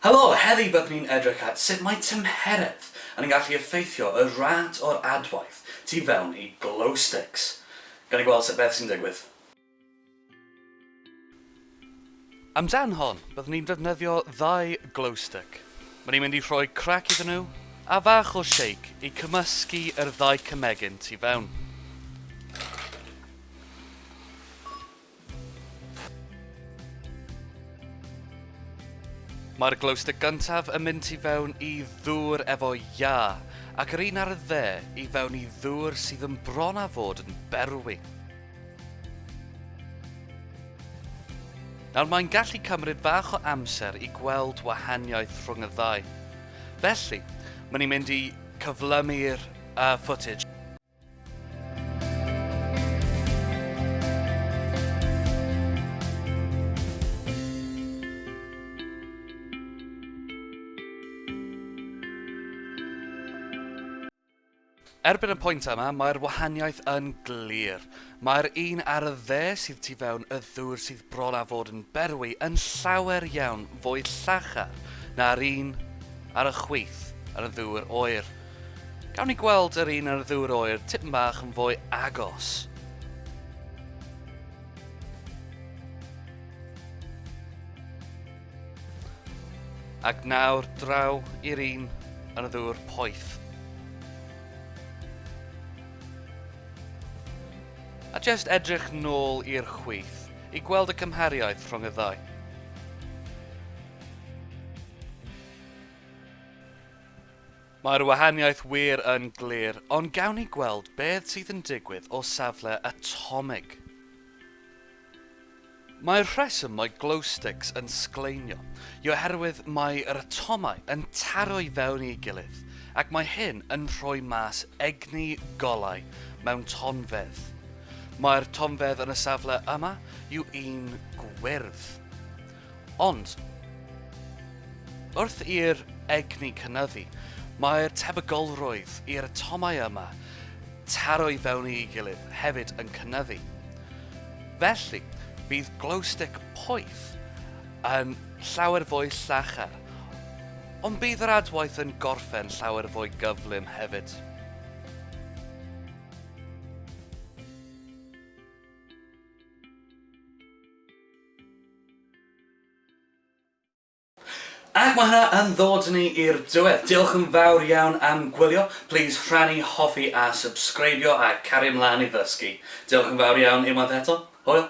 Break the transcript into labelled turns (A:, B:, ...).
A: Helo! Heddi byddwn ni'n edrych at sut mae tymheredd yn gallu effeithio y rât o'r adwaith tu fewn i glow sticks. Gawn ni gweld sut beth sy'n digwydd. Amdan hon, byddwn ni'n defnyddio ddau glow stick. Mae ni'n mynd i rhoi crac iddyn nhw a fach o shake i cymysgu yr ddau cymegyn tu fewn. Mae'r glowstick gyntaf yn mynd i fewn i ddŵr efo iâ, ac yr un ar y dde i fewn i ddŵr sydd yn bron â fod yn berwi. Nawr mae'n gallu cymryd bach o amser i gweld wahaniaeth rhwng y ddau. Felly, mae'n i'n mynd i cyflymu'r uh, footage. Erbyn y pwynt yma, mae'r wahaniaeth yn glir. Mae'r un ar y dde sydd tu fewn y ddŵr sydd bron â fod yn berwi yn llawer iawn fwy llachar na'r un ar y chwith yn y ddŵr oer. Gawn ni gweld yr un yn y ddŵr oer tipyn bach yn fwy agos. Ac nawr draw i'r un yn y ddŵr poeth. A jyst edrych nôl i'r chwith i gweld y cymhariaeth rhwng y ddau. Mae'r wahaniaeth wir yn glir, ond gawn ni gweld beth sydd yn digwydd o safle atomig. Mae'r rheswm mae glowsticks yn sgleinio yw oherwydd mae yr atomau yn taro i fewn i'u gilydd ac mae hyn yn rhoi mas egni golau mewn tonfedd. Mae'r tonfedd yn y safle yma yw un gwyrdd. Ond, wrth i'r egni cynyddu, mae'r tebygolrwydd i'r atomau yma taro i fewn i'u gilydd hefyd yn cynyddu. Felly, bydd glowstick poeth yn llawer fwy llachar, ond bydd yr adwaith yn gorffen llawer fwy gyflym hefyd. Ac mae hwnna yn ddod ni i'r diwedd. Diolch yn fawr iawn am gwylio. Plîs rhannu, hoffi a sybsgreibio a cario mlaen i ddysgu. Diolch yn fawr iawn unwaith eto. Hwyl!